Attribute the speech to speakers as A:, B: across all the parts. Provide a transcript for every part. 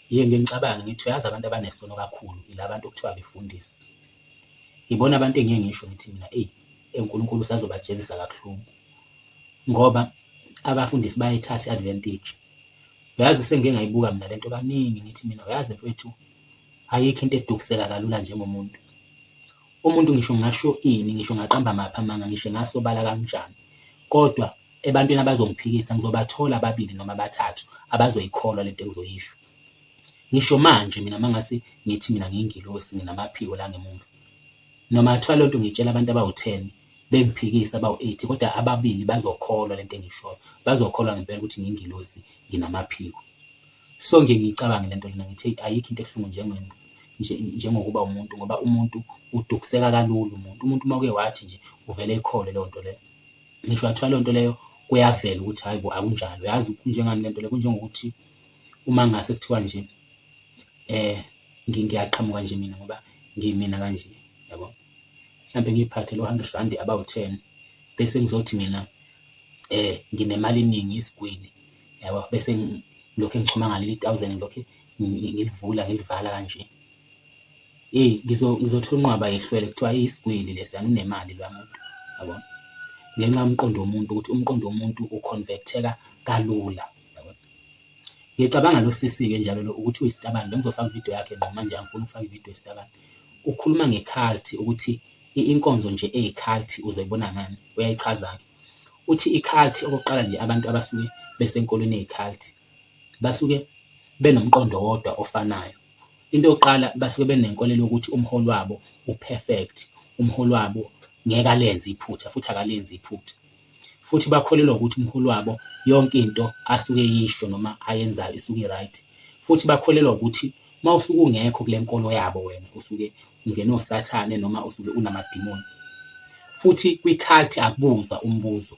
A: Ngiye ngiye ngicabange ngithi uyazi abantu abanesono kakhulu ila bantu okuthiwa abefundisi. Ibona abantu engiye ngisho ngithi mina eyi uNkulunkulu usazobajezisa kabuhlungu ngoba abafundisi bayayithatha i-advantage. Uyazi sengike ngayibuka mina lento kaningi ngithi mina uyazi mfwethu ayikho into edukiseka kalula njengomuntu. Umuntu ngisho ngasho ini, ngisho ngaqamba maphi amanga, ngisho ngasobala kanjani, kodwa ebantwini abazongiphikisa ngizobathola ababili noma abathathu abazoyikholwa lento engizoyisho. Ngisho manje mina mangase ngithi mina ngiyingilosi nginamaphiko la ngemumva. Noma kuthiwa lento ngiyitshela abantu abawu-10 bengiphikisa abawu-8 kodwa ababili bazokholwa lento engishoyo. Bazokholwa ngempela ukuthi ngiyingilosi nginamaphiko. so nje ngiyicabange le nto lena ngithi ayikho into ebuhlungu njengento njengokuba umuntu ngoba umuntu udukiseka kalula umuntu umuntu uma uke wathi nje uvele ikhole leyo nto leyo ngisho wathiwa leyo nto leyo kuyavela ukuthi hayi bo akunjalo yazi kunjengani le nto leyo kunjengokuthi uma ngase kuthiwa nje eh ngiyaqhamuka nje mina ngoba ngimina kanje yabo mhlawumbe ngiyiphathe lo 100 rand about 10 bese ngizothi mina eh nginemali eningi isigwili yabo bese ngilokhu ngichuma ngaleli thousand ngilokhu ngilivula ngilivala kanje eyi ngizothola unqwaba yehlwele kuthiwa iyisigwili lesi anunemali lwa muntu yabo ngenxa yomqondo womuntu ukuthi umqondo womuntu uconverteka kalula ngiyacabanga lo sisi-ke njalo lo ukuthi uyisitabane bengizofaka ividiyo yakhe ngqo manje angifuni ukufaka ividiyo yesitabane ukhuluma ngekhalthi ukuthi inkonzo nje eyikhalthi uzoyibona ngani uyayichaza-ke Uthi i-cult okokuqala nje abantu abasuke besenkolweni eyi-cult basuke benomqondo wodwa ofanayo. Into yokuqala basuke benenkolelo yokuthi umholi wabo u-perfect, umholi wabo ngeke alenze iphutha futhi akalenzi iphutha. Futhi bakholelwa ukuthi umholi wabo yonke into asuke eyisho noma ayenzayo isuke i-right. Futhi bakholelwa ukuthi Uma usuke ungekho kule nkolo yabo wena usuke ungene osathane noma usuke unamadimoni. Futhi kwi-cult akubuzwa umbuzo.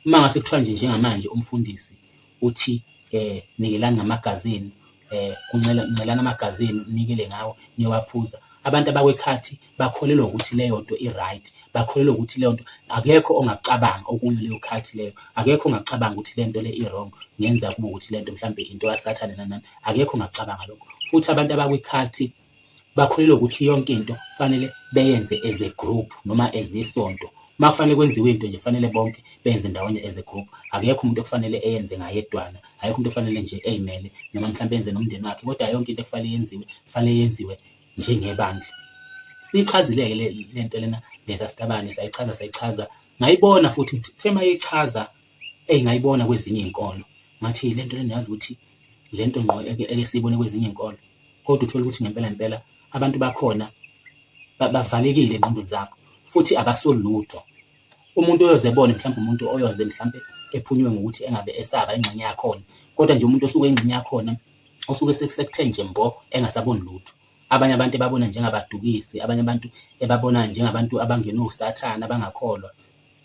A: Uma ngase kuthiwa nje njengamanje umfundisi uthi eh nikelani ngamagazini eh kuncelana amagazini unikele ngawo niyowaphuza. Abantu abakwi-cult bakholelwa ukuthi leyo nto i-right, bakholelwa ukuthi leyo nto akekho ongakucabanga okuyo leyo culture leyo, akekho ongakucabanga ukuthi le nto le i-wrong ngenza kube ukuthi le nto mhlawumbe into kasathane nanani, akekho ongakucabanga lokho. Futhi abantu abakwi-culture bakholelwa ukuthi yonke into kufanele beyenze as a group noma as isonto. Uma kufanele kwenziwe into nje kufanele bonke benze ndawonye as a group, akekho umuntu okufanele eyenze ngayedwana, akekho umuntu ofanele nje ey'mele noma mhlawumbe enze nomndeni wakhe kodwa yonke into ekufanele yenziwe kufanele yenziwe njengebandla. Siyichazile-ke le nto lena lesa sitabane sayichaza sayichaza ngayibona futhi kuthe uma yichaza eyi ngayibona kwezinye iy'nkolo ngathi le nto lena yazi ukuthi le nto ngqo esiyibone kwezinye iy'nkolo kodwa uthole ukuthi ngempela ngempela abantu bakhona bavalekile engqondweni zabo futhi abasoli lutho umuntu oyoze ebone mhlawumbe umuntu oyoze mhlawumbe ephunywe ngokuthi engabe esaba ingxenye yakhona kodwa nje umuntu osuke ingxenye yakhona osuke sekuthe nje mbo engasaboni lutho abanye abantu ebabona njengabadukisi abanye abantu ebabona njengabantu abangena usathane abangakholwa